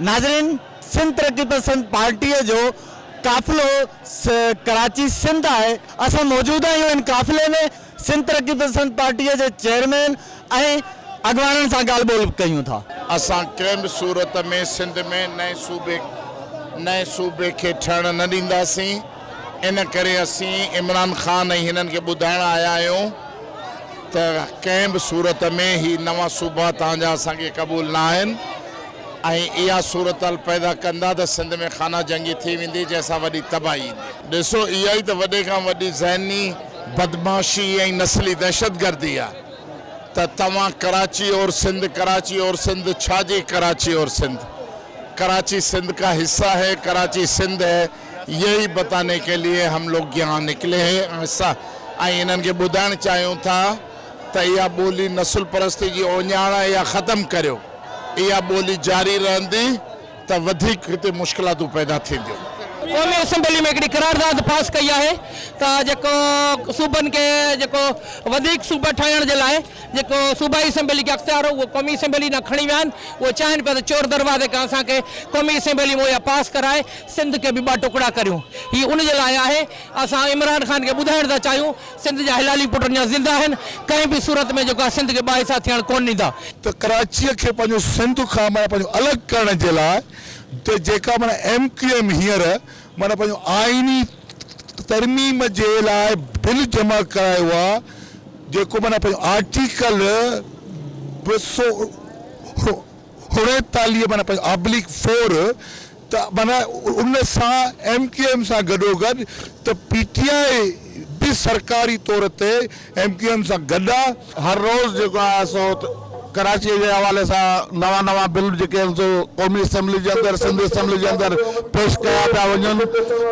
ناظرين سنڌ ترقي پسند پارٽي جو قافلو ڪراچي سنڌ آهي اسان موجود آهيون ان قافلي ۾ سنڌ ترقي پسند پارٽي جي چيئرمين ۽ اڳواڻن سان ڳالهه ٻولهه به ڪيون ٿا. اسان ڪنهن به صورت ۾ سنڌ ۾ نئين صوبي نئين صوبي کي ٺهڻ نه ڏينداسين ان ڪري اسين عمران خان ۽ هنن کي ٻڌائڻ آيا آهيون. ته ڪنهن به صورت ۾ هي نوان صوبا توهان جا اسان کي قبول نه آهن ۽ اها صورتحال پيدا ڪندا ته سنڌ ۾ خانه جنگي ٿي ويندي جنهن سان وڏي تباهي ايندي. ڏسو اها ئي ته وڏي کان وڏي ذهني بدمعاشي ۽ نسلي دهشتگردي آهي ته توهان ڪراچي اور سنڌ ڪراچي اور سنڌ ڇا جي ڪراچي اور سنڌ ڪراچي سنڌ ڪا حصه هي ڪراچي سنڌ هي. يهي بتاني ڪي ليي هم لوگ يهان نڪلي هي ۽ انهن کي ٻڌائڻ چاهيون ٿا ته اها ٻولي نسل پرستي جي اوڃاڻ آهي اها ختم ڪريو اها ٻولي جاري رهندي ته وڌيڪ هتي مشڪلاتون پيدا ٿينديون. قومي اسيمبلي ۾ هڪڙي قرارداد پاس ڪئي آهي ته جيڪو صوبن کي جيڪو وڌيڪ صوبا ٺاهڻ جي لاء جيڪو صوبائي اسيمبلي کي اختيار هو اهو قومي اسيمبلي ڏانهن کڻي ويا آهن اهي چاهين پيا ته چور دروازي کان اسان کي قومي اسيمبلي مهيا پاس ڪرائي سنڌ کي به ٻه ٽڪڙا ڪريون هي ان جي لاء آهي اسان عمران خان کي ٻڌائڻ ٿا چاهيون سنڌ جا هلالي پٽ اڃا زنده آهن ڪنهن به صورت ۾ جيڪو آهي سنڌ کي ٻه حصا ٿيڻ ڪونه ڏيندا. ته ڪراچيء کي پنهنجو سنڌ کان معنيٰ پنهنجو الڳ ڪرڻ جي لاء ته جيڪا معنيٰ ايم ڪيو ايم هينئر معنيٰ پنهنجو آئيني ترميم جي لاء بل جمع ڪرايو آ جيڪو معنيٰ پنهنجو آرٽيڪل ٻه سؤ اڻيتاليهه معنيٰ پنهنجو آبليڪ فور ته معنيٰ ان سان ايم ڪيو ايم سان گڏوگڏ ته پي ٽي آء به سرڪاري طور تي ايم ڪيو ايم سان گڏ آ. هر روز جيڪو آهي سو ڪراچيء جي حوالي سان نوان نوان بل جيڪي آهن سو قومي اسيمبلي جي اندر سنڌ اسيمبلي جي اندر پيش ڪيا پيا وڃن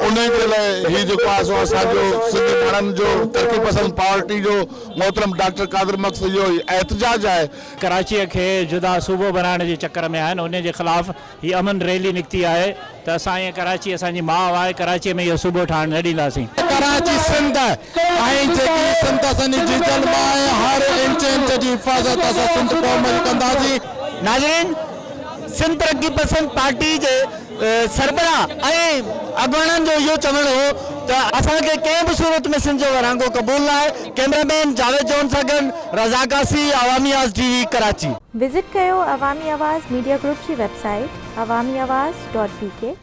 انهي جي لاء هي جيڪو آهي سو اسان جو سنڌي ماڻهن جو ترقي پسند پارٽي جو محترم ڊاڪٽر قادر مڪ سڄو احتجاج آهي. ڪراچيء کي جدا صوبو بنائڻ جي چڪر ۾ آهن انهي جي خلاف. هي امن ريلي نڪتي آهي ته اسان ائين ڪراچي اسان جي ماء آهي ڪراچي ۾ اهو صوبو ٺاهڻ نه ڏينداسين. ڪراچي سنڌ آهي ۽ جيڪي سنڌ اسان جي جيجل ماء آهي هر انچ انچ جي حفاظت اسان سنڌ قوم جي ڪنداسين. ناظرين سنڌ ترقي پسند پارٽي جي سربراهه ۽ اڳواڻن جو اهو چوڻ هو ته اسان کي ڪنهن به صورت ۾ سنڌ جو ورهاڱو قبول ناهي ڪيمرا مين جاويد جون سان گڏ رضا قاصي عوامي آز ٽي وي ڪراچي. وزٽ ڪيو عوامي آواز ميڊيا گروپ جي website Awami Awaz dot بي ڪي.